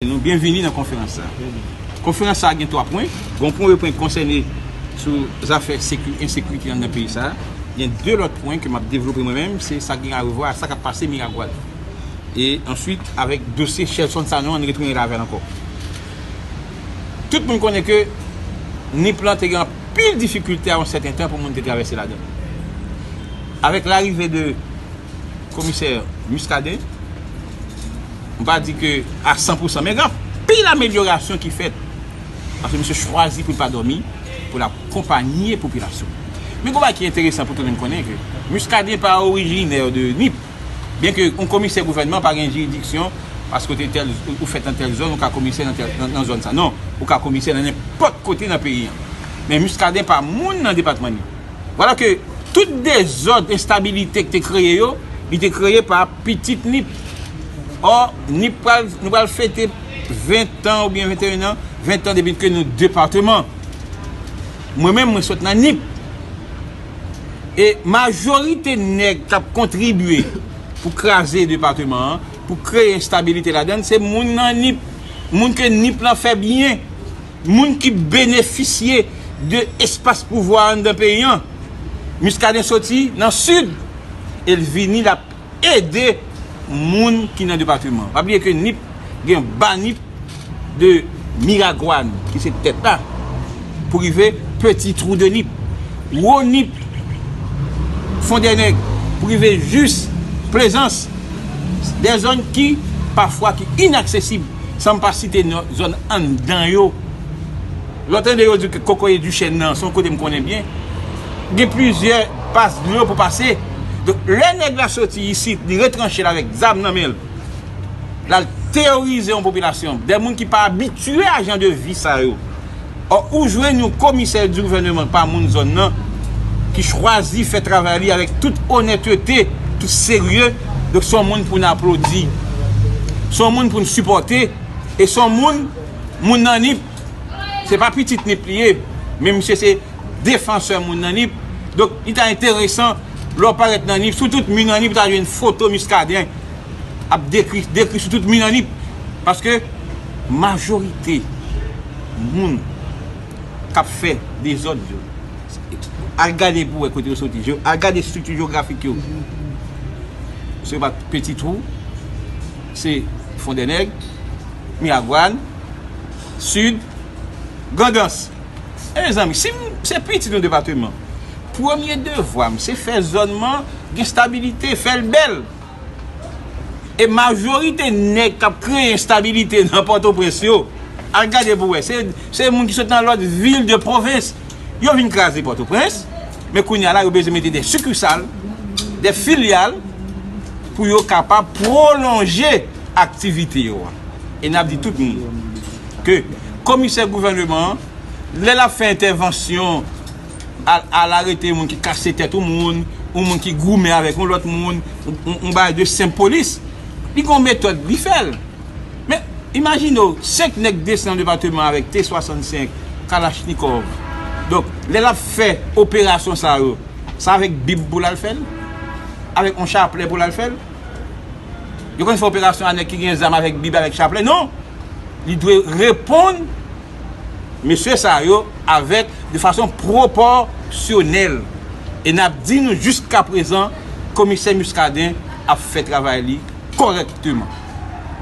Nou byenvini nan konferans sa. Konferans sa gen 3 pwen. Gon premye pwen ki konsène sou zafè ensekirite anndan peyi sa. Gen 2 lòt pwen ke map devlope mwen menm, se sa gen arevwa ak sa kap pase Miragwàn. E answit avèk dosye Shelson Sanon an nou retounen la avèl ankò. Tout moun konnen ke Nip lan te gen anpil difikilte a yon sèten tan pou moun te travèse ladan li. Avèk larive de komisè Muscadin, M pa di ke a 100 pou 100 men gen anpil amelyorasyon ki fèt. Paske misye chwazi pou l pa dòmi, pou l akonpanye popilasyon l. Men gen yon bagay ki enteresan pou tout moun konnen ke Muscadin pa orijinè de Nip. Byen ke yon komisè gouvènman pa gen jiridiksyon paske w te tèl, ou fèt nan tèl zòn ou ka komisè nan tèl, nan zòn sa. Non, ou ka komisè nan nenpòt kote nan peyi an. Men Muscadin pa moun nan depatman Nip. Vwala ke tout dezòd, enstabilite ki te kreye yo, li te kreye pa Pitit Nip! Or, Nip pral, nou pral fete 20 tan ou byen 21 nan, 20 tan depi ke nou departeman. Mwen menm mwen sot nan Nip. E majorite nèg kap kontribye pou kraze departeman an, pou kreye enstabilite ladann, se moun nan Nip. Moun ke Nip lan fè byen. Moun ki benefisye de espas pouvwa anndan peyi an. Muscadin soti nan Sid e l vini l ap ede moun ki nan depateman an. Pa bliye ke Nip gen ba Nip de Miragwàn ki se tèt la pou rive Peti Twou de Nip. Wo Nip, Fondènèg pou rive jis Plezans. De zòn ki pafwa ki inaksesib. San m pa site non zòn anndan yo. Lè w tande yo di ke Kokoye Duchène nan, se yon kote m konnen byen, gen plizyè pas dlo pou pase. Donk, lè nèg la soti isit, li retranche l avèk zam nan men l, l al teyorize yon popilasyon, dè moun ki pa abitye a jan de vi sa yo. Ò ou jwenn yon komisè di gouvèneman k pa moun zòn nan ki chwazi fè travay li avèk tout onètete, tout serye, donk s on moun pou n aplodi, s on moun pou n sipòte e s on moun, moun nan Nip, se pa pitit Nip li ye, men misye se defansè moun nan Nip, donk li ta enteresan lè w parèt nan Nip, sou tout mi nan Nip ou ta jwenn foto Muscadin. ap dekri dekri sou tout min an li paske majorite moun kap fè dezòd yo al gade pou wè kote yo soti al gade estrikti jewografik yo se pa peti twou se fondènèg miragwàn sid grandans e mezanmi si m se pitit yon depateman premye devwa m se fè zòn m an gen stabilite fè l bèl E majorite nèg kap kreye enstabilite nan pòtoprens yo, al gade pou wè, se moun ki sot nan lòt vil de pwovens. Yo vin kraze pòtoprens, men kounye a la yo bezwen mete de sikisal, de filyal pou yo kapab pwolonje aktivite yo. E nap di tout moun ke komisè gouvèneman an lè lap fè entèvansyon, al arete yon moun ki kase tèt yon moun, yon moun ki goumen avèk yon lòt moun, yon bagay de senp polis. Li gen yon metòd li fè l. Men, imajine w, 5 nèg desann nan depateman avèk T65, kalachnikòv. Donk, lè l ap fè operasyon sa yo, se avèk bib pou l al fè l? Avèk yon chaplè pou l al fè l? Yo konn fè operasyon a nèg ki gen zam avèk bib, avèk chaplè? Non! Li dwe reponn. mesye sa yo avèk de fason pwopòsyonèl e n ap di nou jiskaprezan komisè Muscadin ap fè travay li kòrèkteman.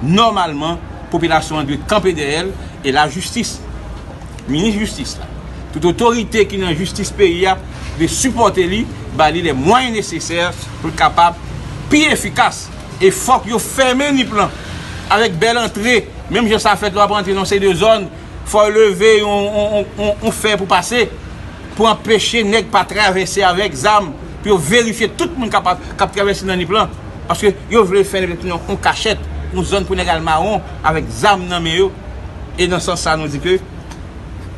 Nòmalman popilasyon an dwe kanpe dèyè l e lajistis, minis jistis la, tout otorite ki nan jistis peyi a dwe sipòte li, ba li lè mwayen nesesè pou l kapab pi efikas. E fòk yo fèmen nip lan avèk bèl antre menm jan sa fèt lè wap antre nan yon seri de zòn fò yo leve yon fè pou pase pou anpeche nèg pa travèse avèk zam pou yo verifye tout moun kap travèse nan nip lan paske yo vle fèl ret nan yon kachèt yon zòn pou nèg al mawon avèk zam nan men yo e nan sans sa nou di ke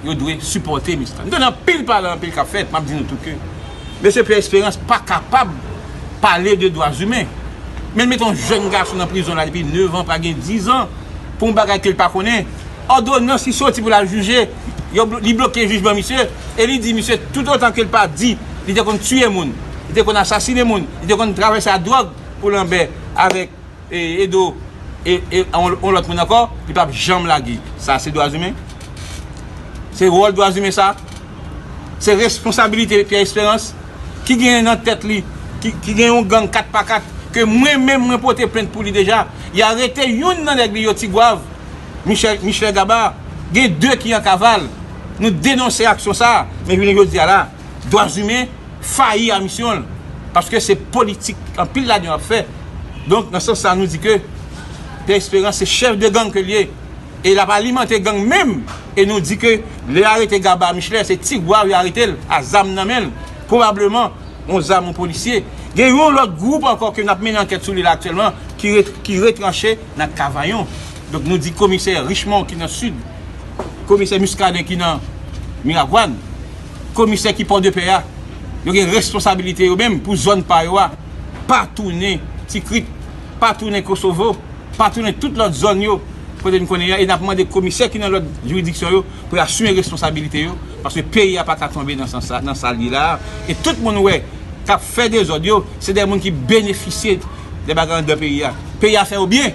yo dwe sipòte miss lan nou tande anpil pale anpil kap fèt map di nou tou ke. Mesye Pierre Esperance pa kapab pale de dwa zimen. Men l mete yon jèn gason nan prizon la depi 9 an pral gen 10 an pou yon bagay ke l pa konnen. Òdonans ki soti pou l al jije, li bloke jijman misye e li di misye toutotan ke l pa di li te konn tiye moun, li te konn asasine moun, li te konn travay sa dwòg pou lanbè avèk. Edo yon lòt moun ankò li pap janm lage sa se dwazimen se wòl dwazimen sa se responsabilite Pierre Espérance ki gen nan tèt li ki gen yon gang 4 pa 4 ke mwen menm mwen pote plent pou li deja y arete youn nan nèg li yo Tigwav Michel Gabar gen 2 ki an kaval nou denonse aksyon sa men jounen jodi a la. Dwazimen fayi a misyon l, paske se politik anpil ladan yo ap fè. Donk, nan sans sa a nou di ke Pè Esperans se chèf de gang ke l ye e l ap alimante gang menm e nou di ke lè yo arete Gaba Michelè se Tigwav yo arete l a zam nan men l, pwobableman yon zam yon polisye. Gen yon lòt gwoup ankò ke n ap mennen ankèt sou li la aktyèlman ki retranche nan Kavayon. Donk, nou di komisè Richemond ki nan Sid, komisè Muscadin ki nan Miragwàn. Komisè ki Pòdepè a, yo gen responsabilite yo menm pou zòn pa yo a, pa tounen Tikrit, pa tounen Kosovo, pa tounen tout lòt zòn yo kote n konnen yo a e n ap mande Komisè ki nan lòt jiridiksyon yo pou yo asime responsabilite yo paske peyi a pa ka tonbe nan sans sa, nan sa l ye la a e tout moun wè k ap fè dezòd yo se de moun ki benefisye de bagay anndan peyi a. Peyi a fè yo byen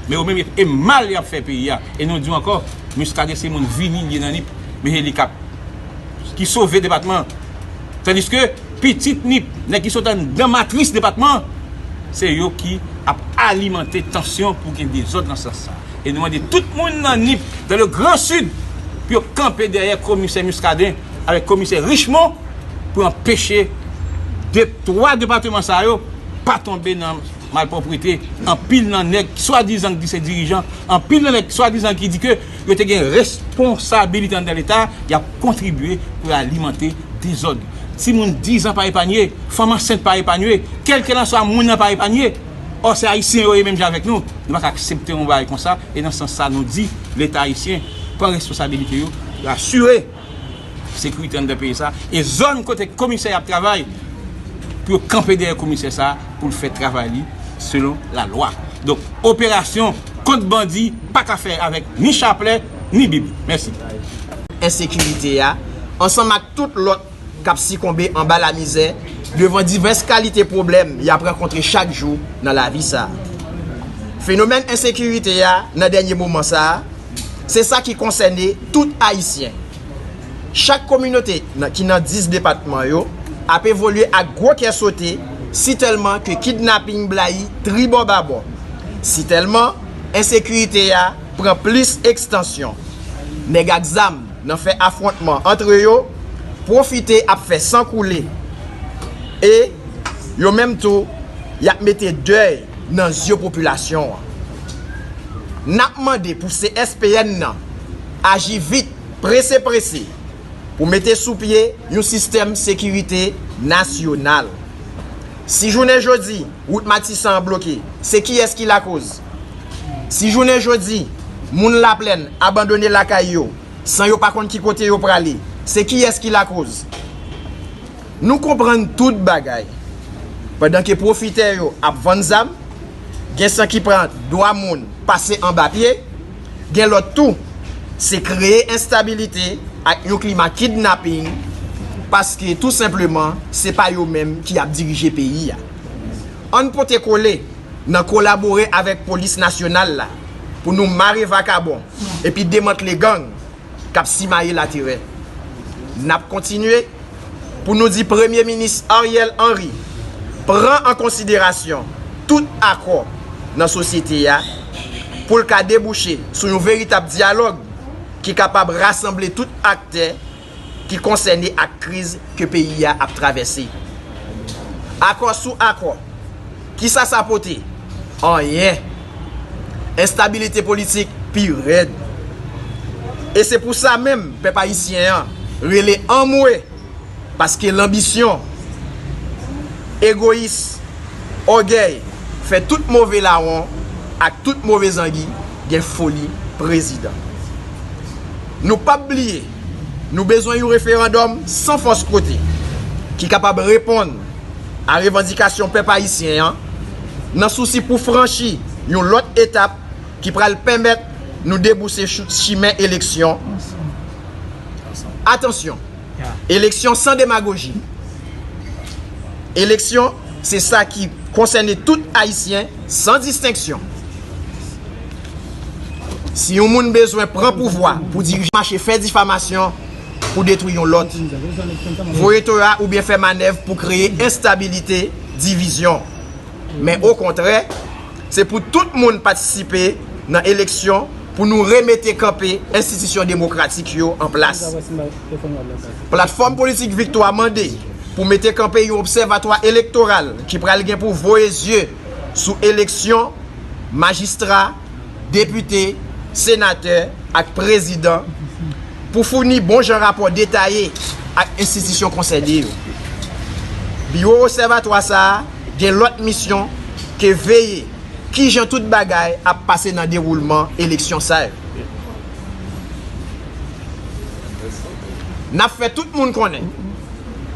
men yo menm e mal y ap fè peyi a e nou di w ankò Miskaden se moun vini li ye nan Nip. Miheli kap ki sove depatman an tandiske pitit ni nèg ki sot anndan matris depatman an se yo ki ap alimante tansyon pou gen dezòd nan sans sa e nou mande tout moun nan nip dan le gran sid pou yo kanpe dèyè komisè Muscadin avèk komisè Richmon pou anpeche de 3 depatman sa yo pa tonbe nan malpwoprite anpil nan nèg swadizan ki di se dirijan anpil nan nèg swadizan ki di ke yo te gen responsabilite anndan leta, y ap kontribye pou y alimante dezòd. Timoun 10 an pa epanye, fanm ansent pa epanye, kèlkelanswa moun nan pa epanye. Ò se Ayisyen yo ye menm jan avèk nou. Nou pa ka aksepte yon bagay konsa e nan sans sa nou di leta ayisyen pran responsabilite yo pou asire. sekirite anndan peyi sa e zòn kote komisè ap travay pou yo kanpe dèyè komisè sa poul fè travay li selon la lwa donk operasyon kont bandi pa ka fè avèk ni chaplè ni bib mèsi. ensekirite a, ansanm ak tout lòt k ap sikonbe anba lamizè devan divès kalite pwoblèm y ap rankontre chak jou nan lavi sa a. Fenomèn ensekirite a nan dènye moman sa a Se sa ki konsène tout Ayisyen. Chak kominote ki nan 10 depatman yo ap evolye ak gwo kè sote si tèlman ke kidnaping blayi tribò babò, si tèlman ensekirite a pran plis ekstansyon. Nèg ak zam nan fè afwontman antre yo, pwofite ap fè san koule e yo menm tou y ap mete dèy. Nan zye popilasyon an, n ap mande pou CSPN nan aji vit, prese prese, pou mete sou pye yon sistèm sekirite nasyonal. Si jounen jodi wout Matisan an bloke, se kiyès ki lakoz? Si jounen jodi moun Laplèn abandone lakay yo san yo pa konn ki kote yo prale, se kiyès ki lakoz? Nou konprann tout bagay. Pandan ke pwofitè yo ap vann zam, gen san ki pran dwa moun pase anba pye, gen lòt tou se kreye enstabilite ak yon klima kidnaping paske tou senpleman se pa yo menm ki ap dirije peyi a. Ann pote kole nan kolabore avèk polis nasyonal la pou nou mare vakabon epi demantle gang. k ap simaye laterè. N ap kontinye pou nou di Premye Minis Ariel Henry pran an konsiderasyon tout akò nan sosyete a pou l ka debouche sou yon veritab dyalòg ki kapab rasanble tout aktè ki konsène ak kriz ke peyi a ap travèse. Akò sou akò. Kisa sa pote? Anyen. Enstabilite politik pi rèd. E se pou sa menm pèp ayisyen an rele anmwe paske lanbisyon, egoyis, ògèy fè tout move lawon ak tout move zangi gen foli prezidan. Nou pap bliye nou bezwen yon referandòm san fòs kote ki kapab reponn. a revandikasyon pèp ayisyen an nan sousi pou franchi yon lòt etap ki pral pèmèt nou debouse sou chimen eleksyon, atansyon, eleksyon san demagoji, eleksyon se sa ki konsène tout ayisyen san distenksyon. Si yon moun bezwen pran pouvwa pou dirije, mache fè difamasyon. pou detwi yon lòt, voye to a oubyen fè manèv pou kreye enstabilite, divizyon. Men okontrè, se pou tout moun patisipe nan eleksyon pou nou remete kanpe enstitisyon demokratik yo an plas. Platfòm Politik Viktwa mande pou mete kanpe yon obsèvatwa elektoral ki pral gen pou voye zye sou eleksyon majistra, depite, senatè ak prezidan. Pou founi bon jan rapò detaye ak enstitisyon konsène yo. Biwo Obsèvatwa sa a gen lòt misyon ke veye kijan tout bagay ap pase nan dewoulman eleksyon sa yo. N ap fè tout moun konnen,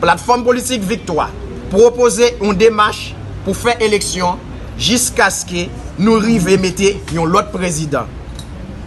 Platfòm Politik Viktwa pwopoze yon demach pou fè eleksyon jiskaske nou rive mete yon lòt prezidan.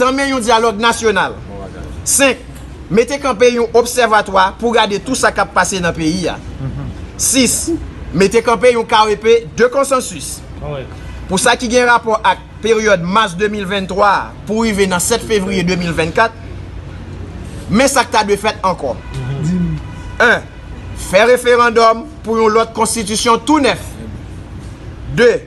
Tanmen yon dyalòg nasyonal. 5. Mete kanpe yon obsèvatwa pou gade tou sa k ap pase nan peyi a. 6. Mete kanpe yon KEP de konsansis pou sa ki gen rapò ak peryòd mas 2023 a pou rive nan 7 fevriye 2024. Men sa k ta dwe fèt ankò. 1. Fè referandòm pou yon lòt konstitisyon tou nèf. 2.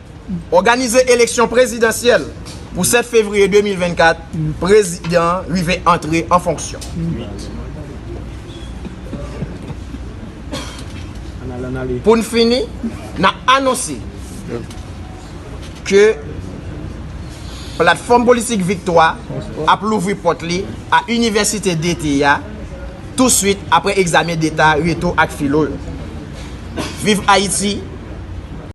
Òganize eleksyon prezidansyèl pou 7 fevriye 2024, prezidan an rive antre an fonksyon. 8. Pou n fini, n ap anonse ke Platfòm Politik Viktwa ap louvri pòt li a Inivèsite Dete a tou swit apre egzamen deta reto ak filo yo. Viv Ayiti!